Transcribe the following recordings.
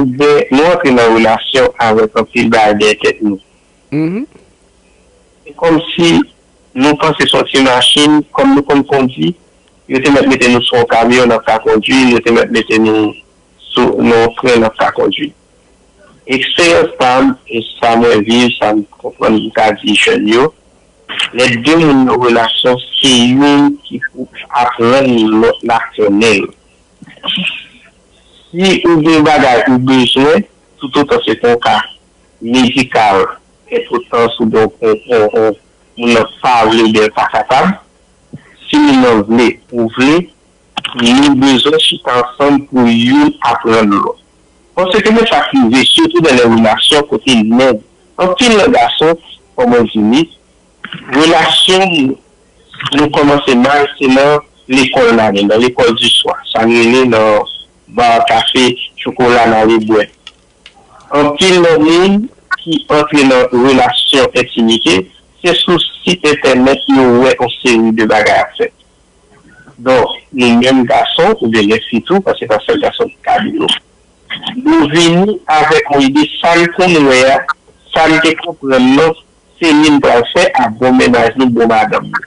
Oubyen nou antre nan relasyon avèk anpil bagay dèyè tèt nou. Se kòmsi nou panse se yon ti machin, kòm nou konn kondi, yo te mèt mete nou sou yon kamyon n ap ka kondwi, yo te mèt mete nou sou nan yon tren n ap ka kondwi. Eksperyans pa m e sa mwen viv, sa m konprann m ka di jèn yo, lè de moun nan relasyon se youn ki pou aprann lòt la konnen l. Si ou gen bagay ou bezwen, toutotan se pa yon ka medikal e toutotan si ou gen yon moun nan pa vle oubyen l pa kapab, si moun nan vle ou vle, nou bezwen chita ansanm pou youn aprann lòt. Panse ke men sa k rive sitou nan yon relasyon kote nèg, anpil nan gason, kòm mwen di li, Relasyon nou kòmanse mal se nan lekòl la menm, nan lekòl di swa, sa n rele nan bar, kafe, chokola n ale bwè. Anpil nan moun ki antre nan relasyon entimite se sou sit entènèt yo wè on seri de bagay ap fèt. Donk nou menm gason oubyen gen fi tou paske se pa sèl gason ki ka dou yo. Nou vini avèk on ide sa n konn wè a, sa n te konprann nan Céline pral fè ak bon mennaj nou bon madanm li.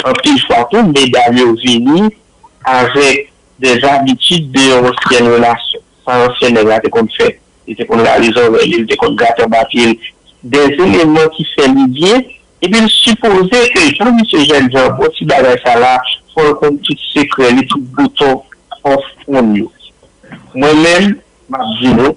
Anpil fwa tou medam yo vini avèk dè zabitid de yon ansyèn relasyon. Sa ansyen nèg la te konn fè, li te konn rale zòrèy li, li te konn grate anba pye l, dè eleman ki fè li byen, epi l sipoze ke jan misye jèn jan bon ti bagay sa la fò l konn tout sekrè li, tout bouton fòs moun yo. Mwen menm, m ap di nou.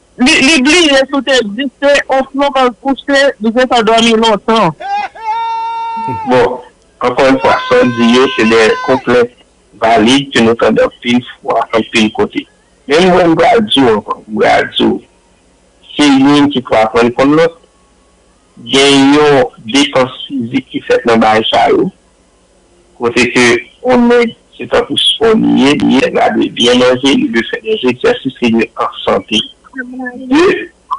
Li bliye si w te egziste osnon kòl kouche li gen tan dòmi lontan. Bon, ankò yon fwa, sa w di yo se de konplent valid ke nou tande anpil fwa, anpil kote. Men mwen m pral di w ankò, m pral di w, se youn ki pou aprann konn lòt. Gen yon depans fizik ki fèt nan bagay sa yo. Kote ke on nèg se tankou spò li ye, li dwe byen manje, li dwe fè dè egzèsis, li dwe an sante. De,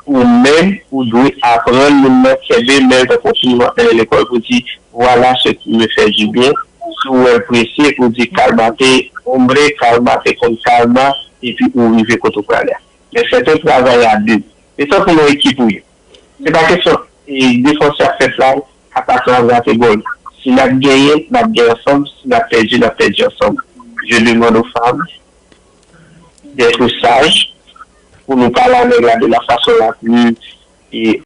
ou menm ou dwe aprann moun nan kenbe men l tankou on timoun ap mennen lekòl pou di, Voilà ce qui me fait du bien, si w wè l prese ou di, Calmate hombre, calmate con calma epi ou rive kote w prale a. Men fèt on travay a 2. Se tankou yon ekip ou ye. Se pa kesyon defanse ap fèt la, atakan ap rate gòl. Si n ap genyen, n ap genyen ansanm, si n ap pèdi, n ap pèdi ansanm. Je demande aux femmes d'être sages pou nou pale a nèg la de la façon la plus